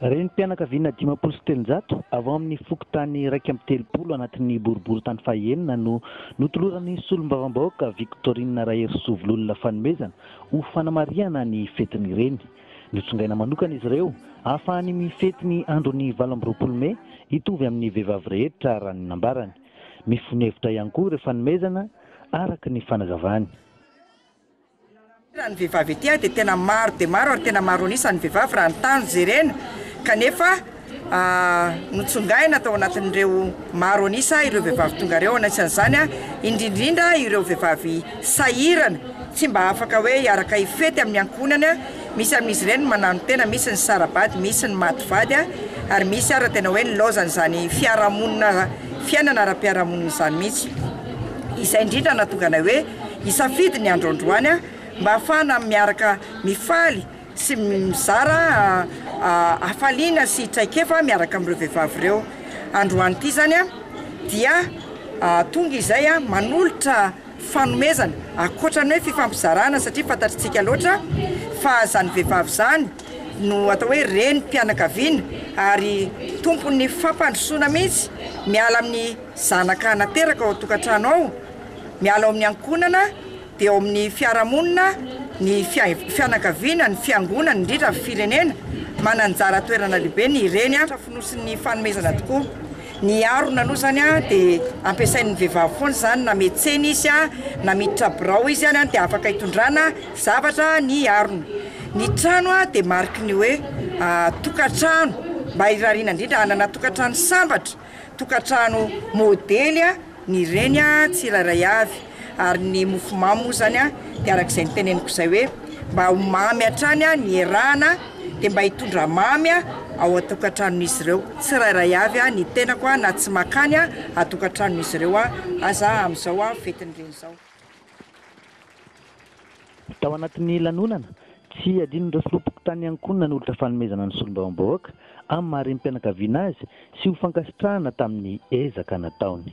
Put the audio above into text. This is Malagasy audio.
Renim-pianakaviana dimampolo sy telonjato avy ao amin'ny fokontany iraika amby telopolo anatin'ny boriborintany fahenina no notoloran'ny solombavambahoaka Victorine Raherisoa Vololona fanomezana ho fanamarihana ny fetin'ny reny. Notsongaina manokana izy ireo hahafahany mifety ny andron'ny valo amby roapolo mey hitovy amin'ny vehivavy rehetra raha ny nambarany. Mifono hevitra ihany koa ireo fanomezana araka ny fanazavany. Raha ny vehivavy ety dia tena maro dia maro ary tena maro an'isa ny vehivavy raha ny tany jerena kanefa. Notsongaina tao anatin'ireo maro an'isa ireo vehivavy tonga ireo, anisan'izany indrindrindra ireo vehivavy sahirana tsy mba afaka hoe hiaraka hifety amin'ny ankohonany, misy amin'izy ireny ny mananontena, misy ny sara-bady, misy ny maty vady ary misy ary tena hoe nilaozan'izany fiarahamonina, fiainana ara-piarahamonina izany mihitsy. Izay indrindra nahatonga anay hoe hisafidy ny andro androany mba hahafahana miaraka mifaly. sy mizara hafaliana sy traikefa miaraka amin'ireo vehivavy ireo. Androany ity izany dia tonga izay manolotra fanomezana ankoatra ny hoe fifampizarana satria fantatritsika loatra fa izany vehivavy izany no atao hoe renim-pianakaviana ary tompon'ny fampandrosoana mihitsy miala amin'ny zanaka nateraka ao an-tokantrano ao, miala ao amin'ny ankohonana. eo amin'ny fiarahamonina, ny fianakaviana, ny fiangonana, indrindra ny firenena, mananjara toerana lehibe ny reny a, fonosin'ny fanomezana tokoa, ny harona aloha zany a dia ampiasain'ny vehivavy foana izany na metsena izy a, na miditra birao izy any a dia afaka hitondrana zavatra ny harona, ny trano a dia mariky ny hoe tokantrano mba irariana indrindra hanana tokantrano sambatra. tokantrano modely ny reny tsirairay avy ary ny mofomamy moa zany de araka izay niteneniko izay hoe mba ho mamy hatrany ny hiarahana de mba hitondra mamy ao an-tokantranon'izy ireo tsirairay avy ny tenako na tsy makany an-tokantranon'izy ireo aza amin'izao fetin'ny reny izao. Tao anatin'ny lanonana, tsy adinon'ireo filoham-pokontany ihany koa ny nanolotra fanomezana ny solombavambahoaka amin'ny maha renim-pianakaviana azy sy ho fankasitrahana tamin'ny ezaka nataony.